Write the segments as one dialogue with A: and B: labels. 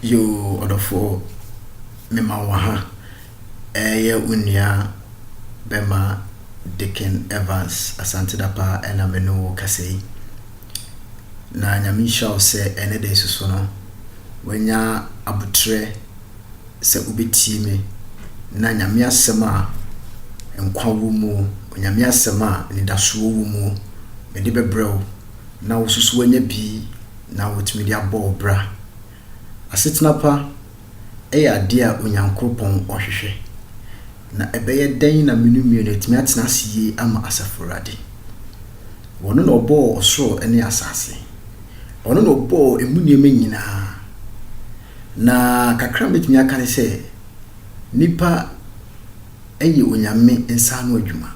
A: Yo ɔdɔfoɔ mema wɔ ha ɛyɛ wo nua bɛma Dicken Evans Asante Dapa ɛna me ne wo kasa yi na nyame nhyira wo sɛ ɛnɛ da nso so no wanya abotrɛ sɛ wobɛtie me na nyame asɛm a nkwa wɔ mu nyame asɛm a anidasoɔ wɔ mu mede bɛbrɛ wo na wosusuw anya bi na wotumi de abɔ wo bra. Asetena pa yɛ ade a Onyankoropɔn ɔhwehwɛ. Na ɛbɛyɛ dɛn na menu mmienu atumi atena ase yie ama Asafo Awurade? Ɔno na ɔbɔɔ ɔsoro ne asase. Ɔno na ɔbɔɔ emu nneɛma nyinaa. Na kakra a mɛtumi aka ne sɛ, nnipa. Ɛyɛ Onyame nsa ano adwuma.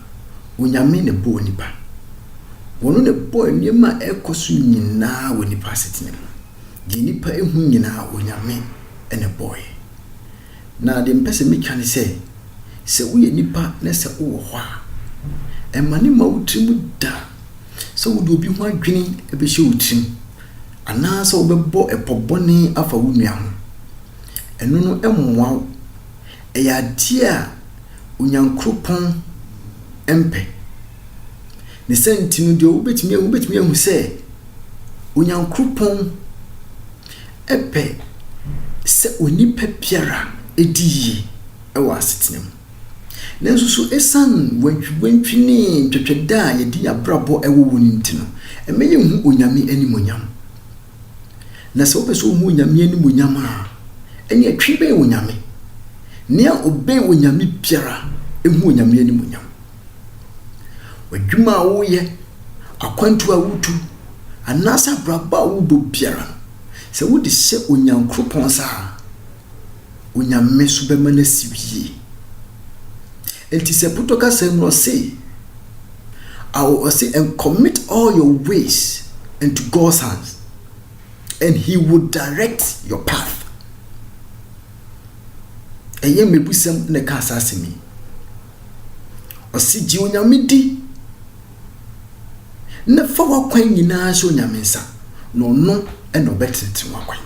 A: Onyame na ɛbɔɔ nnipa. Ɔno na ɛbɔɔ nneɛma a ɛrekɔ so nyinaa wɔ nnipa asetena mu. Deɛ nnipa ɛhu nyinaa, Onyame na ɛbɔeɛ. Na deɛ mepɛ sɛ metwa ne sɛ, sɛ woyɛ nipa na sɛ wowɔ hɔ a, ɛmane ma wo tirim da sɛ wode obi ho adwene ɛbɛhyɛ wo tirim, anaa sɛ wobɛbɔ ɛpɔ bɔne afa wo nua ho. Ɛno no ɛmmoa wo. ɛyɛ adeɛ a Onyankropɔn mpɛ. Ne saa nti no deɛ wobɛtumi ahu, wobɛtumi ahu sɛ Onyankropɔn pɛ sɛ onipa biara di yie wɔ asetena mu. Nanso so ɛsiane wantwiwantwi ne ntwɛtwɛdɛ a yɛde yɛn abrabɔ wɔ wɔ no nti no, ɛmɛ yɛnhu Onyame animuonyam? Na sɛ wopɛ sɛ wohu Onyame animuonyam a, ɛneɛ twe bɛn Onyame. Nea ɔbɛn Onyame biara hu Onyame animuonyam. W'adwuma a woyɛ, akwantuo a wotu, anaasɛ abrabɔ a wobɔ biara no, sɛ wode hyɛ Onyankoropɔn nsa a, Onyame nso bɛma no asi yie. Enti sɛ Puto kasa yi mu no ɔse I will ɔse and commit all your ways into God's hands and he will direct your path. Ɛyɛ mmebusɛm na ɛkaa saa asɛm yi. Ɔse gye Onyame di na fa w'akwan nyinaa hyɛ Onyame nsa na ɔno na ɔbɛtenetene w'akwan.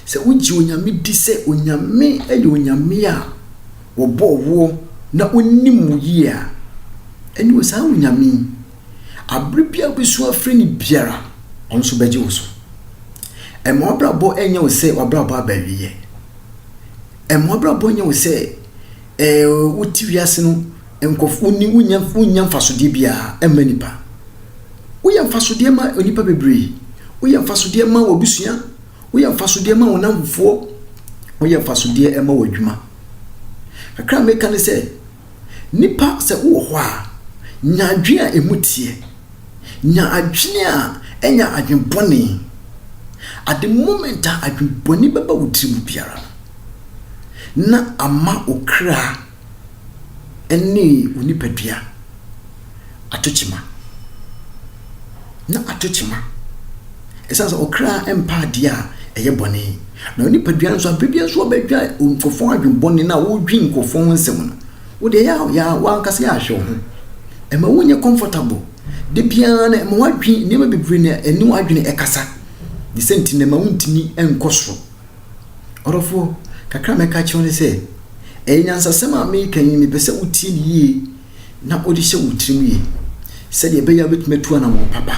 A: Sɛ wogye Onyame di sɛ Onyame yɛ Onyame a, wɔbɔɔ woɔ na ɔnim wo yie a, ɛneɛ saa Onyame yi, aberɛ biara wobɛsu afrɛ no biara, Ɔno nso bɛgye wo so. Ɛmma w'abrabɔ nyɛ wo sɛ w'abrabɔ aba awieɛ. Ɛmma w'abrabɔ nyɛ wo sɛ ɛɛ wote wiase no nkurɔfo wonni wonnya wonnya mfasodeɛ biara ɛmma nipa. Woyɛ mfasodeɛ ma nnipa bebree. Woyɛ mfasodeɛ ma w'abusua. Woyɛ mfasodeɛ ma wo nnamfofoɔ, woyɛ mfasodeɛ ma w'adwuma. Kakra a meka ne sɛ, nnipa sɛ wowɔ hɔ a, nya adwene a ɛmu teɛ. Nya adwene a ɛnya adwene bɔne. At the moment a adwene bɔne bɛba wo tirim biara no, na ama wo kra. ne wo nipadua ato kyema. Na ato kyema ɛsiane sɛ ɔkra mpa adeɛ a ɛyɛ bɔne. Na wo nipadua nso abere biara nso ɔbɛdwa nkurɔfoɔ adwene bɔne na wodwi nkurɔfoɔ ho nsɛm no. Wodeɛ yɛ yɛ wankasa yɛ ahwɛ wo ho. Ɛma wonyɛ comfortable. Da biara no ɛma wadwi nneɛma bebree na ɛne wadwene ɛkasa. Ne sɛ nti na ɛma wontumi nkɔ soro. Ɔdɔfo, kakra a mɛka akyerɛ wo ne sɛ, ɛyɛ nyansasɛm a mereka yi, mepɛ sɛ wutie no yiye na wode hyɛ wo tirim yiye, sɛnea ɛbɛyɛ a wubetumi atu anammɔn papa.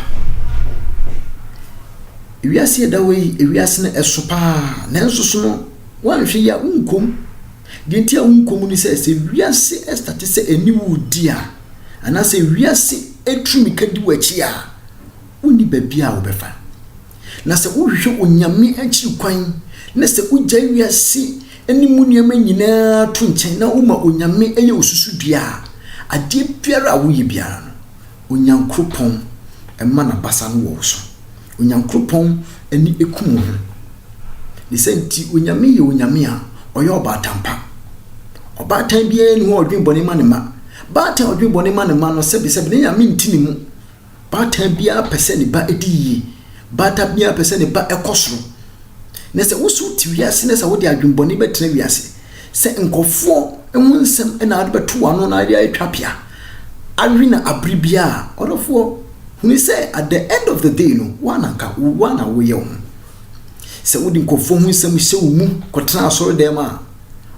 A: Wiase a ɛda hɔ yi, wiase no ɛso paa, nanso so no, woanhwɛ yie a, wunkɔ mu. Deɛ nti a wunkɔ mu ne sɛ, sɛ wiase ɛstate sɛ ɛne wo redi a, anaasɛ wiase atu mmirika di w'akyi a, wonni baabi a wobɛfa. Na sɛ wohwehwɛ Onyame akyiri kwan, na sɛ wugyae wiase ne mu nneɛma nyinaa to nkyɛn na woma Onyame yɛ wo susudua a, adeɛ biara a woyɛ biara no, Onyankoropɔn mma n'abasa no wɔ wo so. Onyankoropɔn ani ku wo ho. Ne saa nti, Onyame yɛ Onyame a ɔyɛ ɔbaatan pa. Ɔbaatan biara nni hɔ a ɔdwen bɔne ma ne mma. Baatan a ɔdwen bɔne ma ne mma no, sɛbesɛbe, ne Nyame nte ne mu. Baatan biara pɛ sɛ ne ba di yie. Baatan biara pɛ sɛ ne ba kɔ soro. Na sɛ wo sɛ wote wiase na sɛ wode adwemmɔne bɛtena wiase, sɛ nkurɔfoɔ ho nsɛm na wode bɛto w'ano na wode atwa pea awe no abere biara a, ɔdɔfoɔ, hunu sɛ at the end of the day no, woa na nka woa na woyɛ wo ho. Sɛ wode nkurɔfoɔ ho nsɛm hyɛ wo mu kɔtena asɔredɛm a,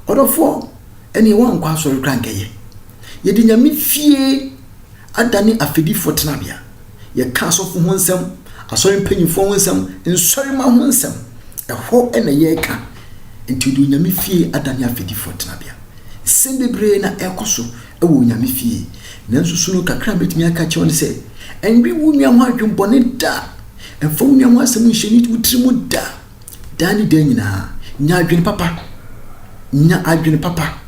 A: ɔdɔfoɔ, ɛneɛ woankɔ asɔre koraa nkɛyɛ. Yɛde Nyame fie. adane afɛdifoɔ tenabea. Yɛka asɔfo ho nsɛm, asɔre mpanyimfoɔ ho nsɛm, nsɔremma ho nsɛm. Ɛhɔ na yɛreka. Nti wɔde Onyame fie adane afɛdifoɔ tenabea. Nsɛm bebree na ɛrekɔ so wɔ Onyame fie. Nanso su no kakra a mɛtumi aka akyerɛ wo ne sɛ, ɛnwe wo nua ho adwemmɔne da. Mfa wo nua ho asɛm nhyɛ ne wo tiri mu da. Daa ne daa nyinaa, nya adwene papa. Nya adwene papa.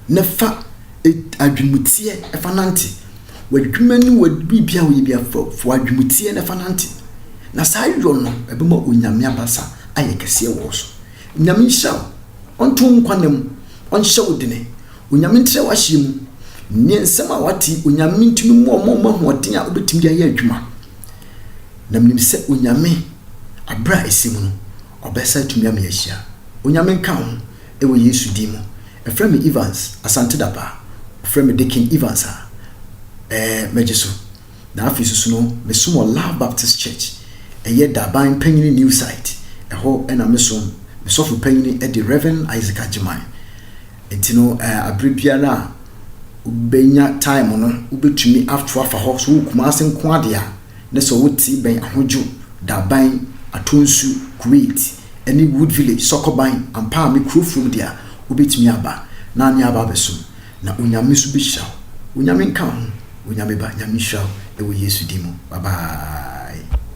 A: na fa adwenemuteɛ fa nante. W'adwuma ne w'biribiara a woyɛ biara fa fa w'adwenemuteɛ na fa nante. Na saa yɔ no, ɛbɛma Onyame abasa ayɛ kɛseɛ wɔ wo so. Nyame nhyira wo, Ɔnto wo nkwa nna mu, Ɔnhyɛ wo dene. Onyame ntrɛ w'ahyeɛ mu. Neɛ nsɛm a w'ate yi, Onyame ntumi mmoa wo mma wo mma ahoɔden a wobɛtumi de ayɛ adwuma. Na menim sɛ Onyame, aberɛ a ɛsɛ mu no, Ɔbɛsa atumi ama yɛahyia. Onyame nka wo ho, ɛwɔ Yesu din mu. Ɛfrɛ me Evans Asante Dapaah Wɔfrɛ me Dekin Evans a Ɛɛ mɛgye so Na afei susu no mesom wɔ Love Baptist Church Ɛyɛ Daban Panyini New Site Ɛhɔ na mesom Me sɔfo panyini de Rev. Isaac Agyemang Enti no ɛɛ aberɛ biara a wobɛnya time no wobɛtumi ato afa hɔ So wowɔ Kumasi nko ara deɛ a ne sɛ ɔwɔ ti bɛn Ahodwo, Daban, Atonsu, Kuwait, ne Wood Village, Sɔkɔban, ampa a me kuro fam deɛ a, wobɛtumi aba na ne aba abɛsom, na Onyame nso bɛhyira wo. Onyame nka wo ho, Onyame ba, Nyame nhyira wo wɔ Yesu din mu. Bye bye.